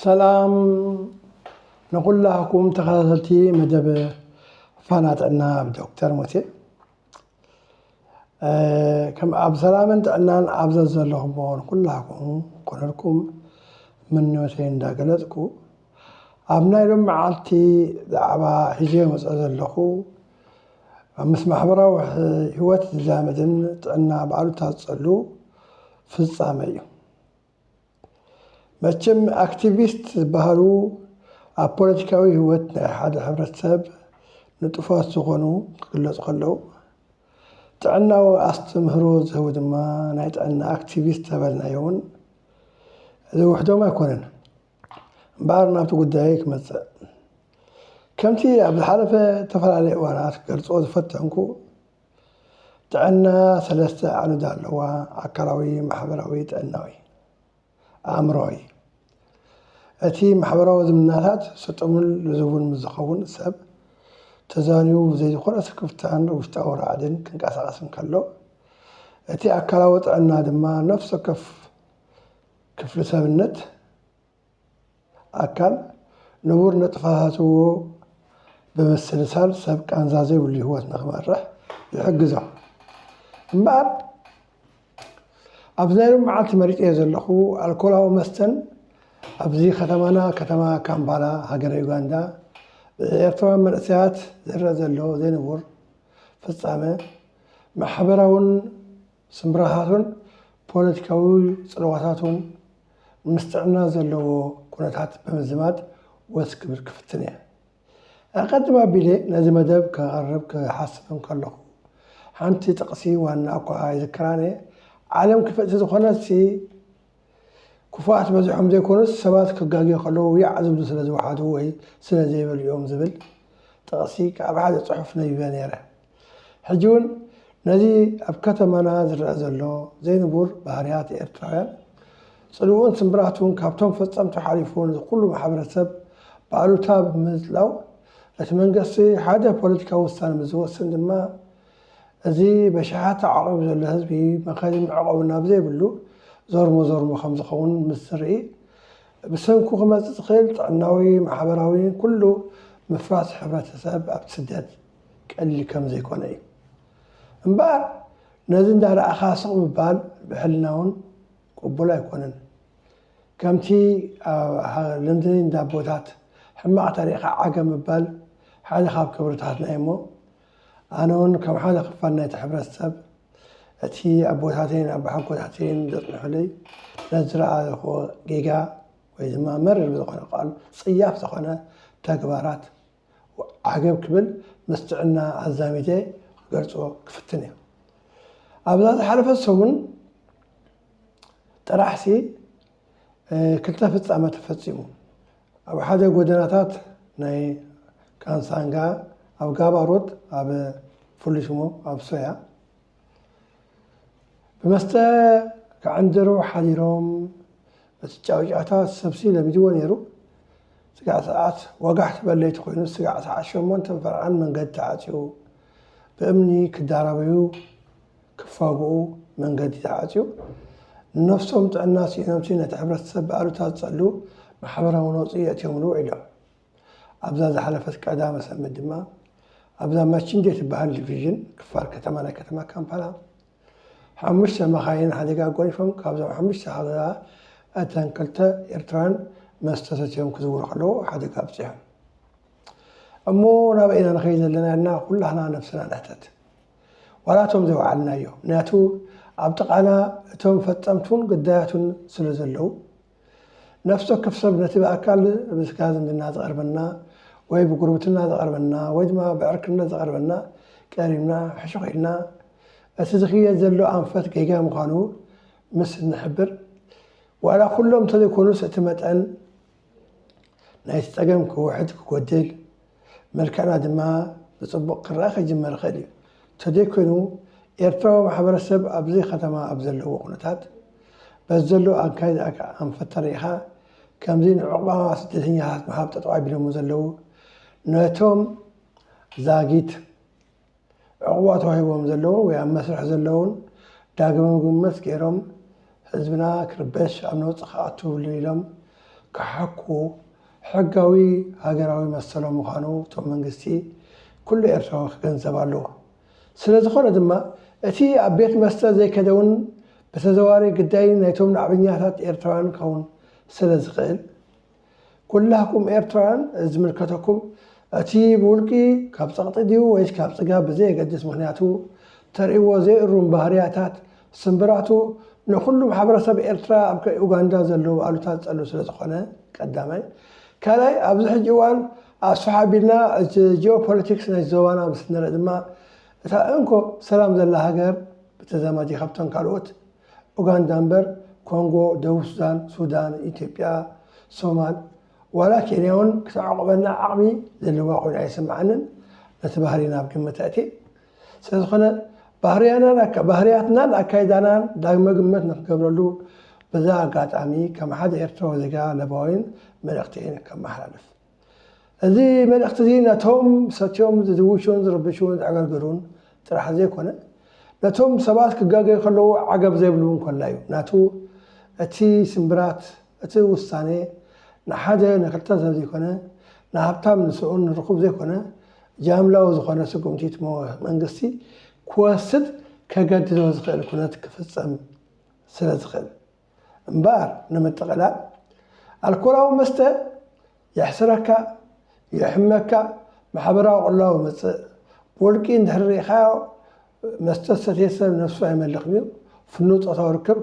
ሰላም ንኹላኩም ተኸታተልቲ መደብ ፋና ጥዕና ብዶክተር ሙሴ እ፣ ከም ኣብ ሰላምን ጥዕናን ኣብ ዘዘለኹምዎ ንኩላኩም ኮነልኩም ምንዮተይ እንዳገለጽኩ ኣብ ናይ ሎም መዓልቲ ዛዕባ ሒዘ መፀ ዘለኹ ምስ ማሕበራዊ ህይወት ዝዛመድን ጥዕና ብኣሉታ ዝጸሉ ፍጻመ እዩ። መቸም ኣክቲቪስት ዝበሃሉ ኣብ ፖለቲካዊ ህይወት ናይ ሓደ ሕብረተሰብ ንጡፋት ዝኾኑ ክግለፁ ከለው ጥዕናዊ ኣስተምህሮ ዝህቡ ድማ ናይ ጥዕና ኣክቲቪስት ተበልናዮ እውን ዝውሕዶም ኣይኮነን። እምበኣር ናብቲ ጉዳይ ክመፅእ ከምቲ ኣብ ዝሓለፈ እተፈላለየ እዋናት ክገልፆ ዝፈተንኩ ጥዕና ሰለስተ ዓንድ ኣለዋ፣ ኣካላዊ፣ ማሕበራዊ፣ ጥዕናዊ፣ ኣእምሮዊ። እቲ ማሕበራዊ ዝምድናታት ስጡምን ልዙብን ምስ ዝኸውን ሰብ ተዛንዩ ብዘይ ዝኾነ ስክፍታን ውሽጣዊ ራዕድን ክንቀሳቐስ እንከሎ፣ እቲ ኣካላዊ ጥዕና ድማ ነፍሲ ወከፍ ክፍሊ ሰብነት ኣካል ንቡር ንጥፈታትዎ ብምስልሳል ሰብ ቃንዛ ዘይብሉ ህይወት ንክመርሕ ይሕግዞ። እምበኣር ኣብዚ ናይ ሎሚ መዓልቲ መሪጸዮ ዘለኹ ኣልኮላዊ መስተን ኣብዚ ከተማና ከተማ ካምፓላ ሃገረ ዩጋንዳ ብኤርትራውያን መንእሰያት ዝርኣ ዘሎ ዘይንቡር ፍጻመ ማሕበራውን ስምብራታቱን ፖለቲካዊ ጽልዋታቱን ምስ ጥዕና ዘለዎ ኩነታት ብምዝማድ ወስ ክብል ክፍትን እየ። ኣቐድም ኣቢለ ነዚ መደብ ከቐርብ ክሓስብ እንከለኹ፣ ሓንቲ ጥቕሲ ዋና እኳ ኣይዝክራን እየ፣ ዓለም ክፍእቲ ዝኾነትሲ ክፉኣት በዚሖም ዘይኮኑስ ሰባት ክጋግዩ ከለዉ ያዕ ዝብሉ ስለ ዝወሓዱ ወይ ስለ ዘይበሉ እዮም ዝብል ጥቕሲ ካብ ሓደ ጽሑፍ ነቢበ ነይረ። ሕጂ ውን ነዚ ኣብ ከተማና ዝረኣ ዘሎ ዘይንቡር ባህርያት ኤርትራውያን ጽልውኡን ስምብራቱን ካብቶም ፈጸምቱ ሓሊፉ ንኩሉ ማሕበረሰብ ብኣሉታ ብምጽላው እቲ መንገስቲ ሓደ ፖለቲካዊ ውሳነ ምስ ዝወስን ድማ እዚ በሽሓት ተዓቂቡ ዘሎ ህዝቢ መኸሪ መዕቆቢ ናብ ዘይብሉ ዞርሞ ዞርሞ ከም ዝኸውን ምስ ዝርኢ ብሰንኩ ክመጽእ ዝኽእል ጥዕናዊ ማሕበራዊ ኩሉ ምፍራስ ሕብረተሰብ ኣብቲ ስደት ቀሊል ከም ዘይኮነ እዩ። እምበኣር ነዚ እንዳ ረኣኻ ስቕ ምባል ብሕልና ውን ቅቡል ኣይኮነን። ከምቲ ኣብ ልምዲ እንዳ ኣቦታት ሕማቕ ተሪእኻ ዓገብ ምባል ሓደ ካብ ክብርታትና እዩ እሞ ኣነ ውን ከም ሓደ ክፋል ናይቲ ሕብረተሰብ እቲ ኣቦታተይን ኣቦሓጎታተይን ዘጽንሑለይ ነዚ ዝረኣኹዎ ጌጋ ወይ ድማ መሪር ብዝኾነ ቃል ጽያፍ ዝኾነ ተግባራት ዓገብ ክብል ምስ ጥዕና ኣዛሚደ ክገልጾ ክፍትን እየ። ኣብዛ ዝሓለፈት ሰሙን ጥራሕሲ ክልተ ፍጻመ ተፈጺሙ። ኣብ ሓደ ጎደናታት ናይ ካንሳንጋ ኣብ ጋባሮት ኣብ ፍሉይ ሽሙ ኣብ ሶያ ብመስተ ክዕንድሩ ሓዲሮም እቲ ጫውጫታ ሰብሲ ለሚድዎ ነይሩ። ስጋዕ ሰዓት ወጋሕ ትበል ለይቲ ኮይኑ ስጋዕ ሰዓት ሸሞንተን ፈርቓን መንገዲ ተዓፅዩ። ብእምኒ ክዳረበዩ ክፋግኡ መንገዲ ተዓፅዩ። ንነፍሶም ጥዕና ስኢኖምሲ ነቲ ሕብረተሰብ ብኣሉታ ዝፀልው ማሕበራዊ ነውፂ የእትዮምሉ ውዒሎም። ኣብዛ ዝሓለፈት ቀዳመ ሰንበት ድማ ኣብዛ ማቺንዴ ትበሃል ዲቪዥን ክፋል ከተማ ናይ ከተማ ካምፓላ ሓሙሽተ መኻይን ሓደጋ ጎሪፎም ካብዞም ሓሙሽተ ሃለላ እተን ክልተ ኤርትራን መስተ ሰትዮም ክዝውሩ ከለዉ ሓደጋ ኣብፅሖም እሞ ናበይ ኢና ንኸይ ዘለና ኢልና ኩላህና ነብስና ንሕተት ዋላ እቶም ዘይወዓልናዮ ምክንያቱ ኣብ ጥቓና እቶም ፈፀምቱን ግዳያቱን ስለ ዘለዉ ነፍሲ ወከፍ ሰብ ነቲ ብኣካል ብስጋ ዝምድና ዝቐርበና ወይ ብጉርብትና ዝቐርበና ወይ ድማ ብዕርክነት ዝቐርበና ቀሪብና ሕሹኽ ኢልና እቲ ዝኽየድ ዘሎ ኣንፈት ጌጋ ምዃኑ ምስ እንሕብር ዋላ ኩሎም እንተዘይኮኑስ እቲ መጠን ናይቲ ጸገም ክውሕድ ክጎድል መልክዕና ድማ ብጽቡቕ ክረኣ ክጅመር ይኽእል እዩ። ተደይ ኮይኑ ኤርትራዊ ማሕበረሰብ ኣብዘይ ከተማ ኣብ ዘለዎ ኩነታት በዚ ዘሎ ኣንካይ ዝኣካ ኣንፈት ተሪኢኻ ከምዚ ንዑቕባ ስደተኛታት ምሃብ ጠጠው ኣቢሎሞ ዘለው ነቶም ዛጊት ዕቑባ ተዋሂቦም ዘለዉን ወይ ኣብ መስርሕ ዘለዉን ዳግመ ምግምት ገይሮም ህዝብና ክርበሽ ኣብ ነውጺ ክኣቱ የብሉን ኢሎም ክሓኩ ሕጋዊ ሃገራዊ መሰሎም ምዃኑ እቶም መንግስቲ ኩሉ ኤርትራዊ ክገንዘብ ኣለዎ። ስለ ዝኾነ ድማ እቲ ኣብ ቤት መስተ ዘይከደውን ብተዘዋዋሪ ግዳይ ናይቶም ናዕበኛታት ኤርትራውያን ክኸውን ስለ ዝኽእል፣ ኩላኩም ኤርትራውያን ዝምልከተኩም እቲ ብውልቂ ካብ ጸቕጢ ድዩ ወይስ ካብ ጽጋብ ብዘየገድስ ምኽንያቱ ተርእይዎ ዘይእሩም ባህርያታት ስምብራቱ ንኹሉ ማሕበረሰብ ኤርትራ ኣብ ኡጋንዳ ዘለዉ ኣሉታ ዝጸሉ ስለዝኾነ ቀዳማይ ካልኣይ ኣብዚ ሕጂ እዋን ኣስፍሕ ኣቢልና እቲ ጂኦፖለቲክስ ናይ ዞባና ምስ ንርኢ ድማ እታ እንኮ ሰላም ዘላ ሃገር ብተዛማዲ ካብተን ካልኦት ኡጋንዳ እምበር ኮንጎ ደቡብ ሱዳን ሱዳን ኢትዮጵያ ሶማል ዋላ ኬንያ ውን ክተዕቑበና ዓቕሚ ዘለዋ ኮይና ኣይስምዓንን ነቲ ባህሪና ኣብ ግምት ኣእትየ ስለዝኾነ ባህርያትናን ኣካይዳናን ዳግመ ግምት ንክገብረሉ በዚ ኣጋጣሚ ከም ሓደ ኤርትራዊ ዜጋ ለባዊን መልእኽተይን ከመሓላልፍ እዚ መልእኽቲ'ዚ ነቶም ሰትዮም ዝድውሹን ዝርብሹን ዘዕገርገሩን ጥራሕ ዘይኮነ፣ ነቶም ሰባት ክጋገዩ ከለዉ ዓገብ ዘይብሉ'ውን ኮላዩ። ናቱ እቲ ስምብራት፣ እቲ ውሳኔ፣ ንሓደ ንክልተ ሰብ ዘይኮነ፣ ንሃብታም ንስኡን ንርኹብ ዘይኮነ፣ ጃምላዊ ዝኾነ ስጉምቲት መንግስቲ ክወስድ ከገድዶ ዝኽእል ኩነት ክፍጸም ስለዝኽእል። እምበኣር ንምጥቕላል ኣልኮላዊ መስተ የሕስረካ፣ የሕመካ፣ ማሕበራዊ ቅልውላው የምጽእ፣ ብውልቂ እንድሕሪ ርኢኻዮ መስተ ዝሰትየ ሰብ ነብሱ ኣይመልኽን እዩ፣ ፍኑው ጾታዊ ርክብ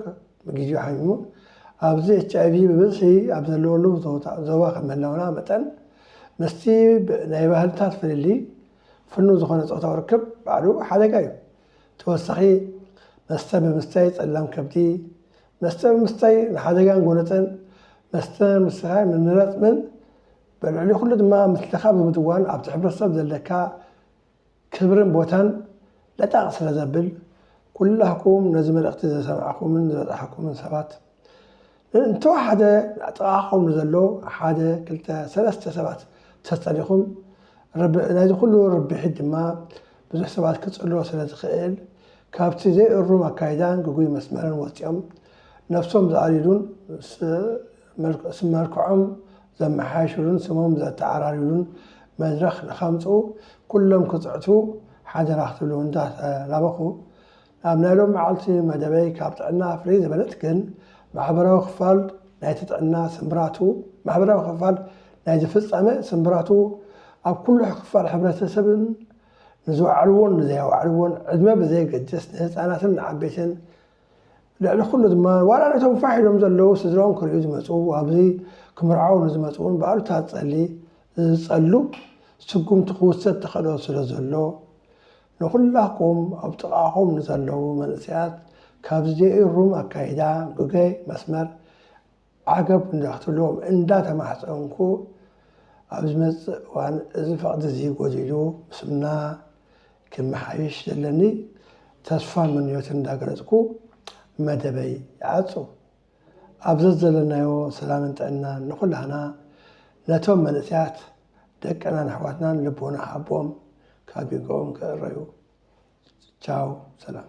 ብግዜኡ ሓሚሙ፣ ኣብዚ ኤችኣይቪ ብብዝሒ ኣብ ዘለወሉ ዞባ ከም ምህላውና መጠን ምስቲ ናይ ባህልታት ፍልልይ ፍኑው ዝኾነ ጾታዊ ርክብ ባዕሉ ሓደጋ እዩ። ተወሳኺ መስተ ብምስታይ ጸላም ከብዲ፣ መስተ ብምስታይ ንሓደጋን ጎነጸን መስተ ምስታይ ምንራጽምን በልዕሊ ኩሉ ድማ ምስልኻ ብምድዋን ኣብቲ ሕብረተሰብ ዘለካ ክብርን ቦታን ለጣቕ ስለዘብል ኩላህኩም ነዚ መልእኽቲ ዝሰማዕኩምን ዝበጻሓኩምን ሰባት እንተወሓደ ኣብ ጥቓኹም ንዘሎ ሓደ ክልተ ሰለስተ ሰባት ተጸሊኹም ረብዒ ናይዚ ኩሉ ርብሒት ድማ ብዙሕ ሰባት ክጽልዎ ስለ ዝኽእል ካብቲ ዘይእሩም ኣካይዳን ግጉይ መስመርን ወጺኦም ነብሶም ዝኣልይሉን ስም መልክዖም ዘመሓይሽሉን ስሞም ዘተዓራርዩሉን መድረኽ ንኸምጽኡ ኩሎም ክጽዕቱ ሓደራ ክትብሉ እንዳተላበኹ ኣብ ናይ ሎሚ መዓልቲ መደበይ ካብ ጥዕና ፍልይ ዝበለት ግን ማሕበራዊ ክፋል ናይቲ ጥዕና ስምብራቱ ማሕበራዊ ክፋል ናይዚ ፍጻመ ስምብራቱ ኣብ ኩሉ ክፋል ሕብረተሰብን ንዝወዓልዎን ንዘይኣወዓልዎን ዕድመ ብዘየገድስ ንህጻናትን ንዓበይትን ልዕሊ ኩሉ ድማ ዋላ ነቶም ፋሕ ኢሎም ዘለዉ ስድራኦም ክርእዩ ዝመጹ ኣብዚ ክምርዓው ንዝመጽኡን ብኣሉታ ጸሊ ዝጸሉ ስጉምቲ ክውሰድ ተኸእሎ ስለ ዘሎ ንኹላኩም ኣብ ጥቃኹም ንዘለዉ መንእሰያት ካብዚ ዘይእሩም ኣካይዳ ግገይ መስመር ዓገብ እንዳትብልዎም እንዳ ተማሕጸንኩ ኣብ ዝመጽእ እዋን እዚ ፈቅዲ እዚ ጎዲሉ ምስምና ክመሓይሽ ዘለኒ ተስፋ ምንዮት እንዳገለጽኩ መደበይ ይዓጹ። ኣብ ዘዘለናዮ ሰላምን ጥዕናን ንኹላህና ነቶም መንእሰያት ደቅናን ኣሕዋትናን ልቦና ሃቦም ካብ ጌግኦም ክእረዩ ቻው ሰላም።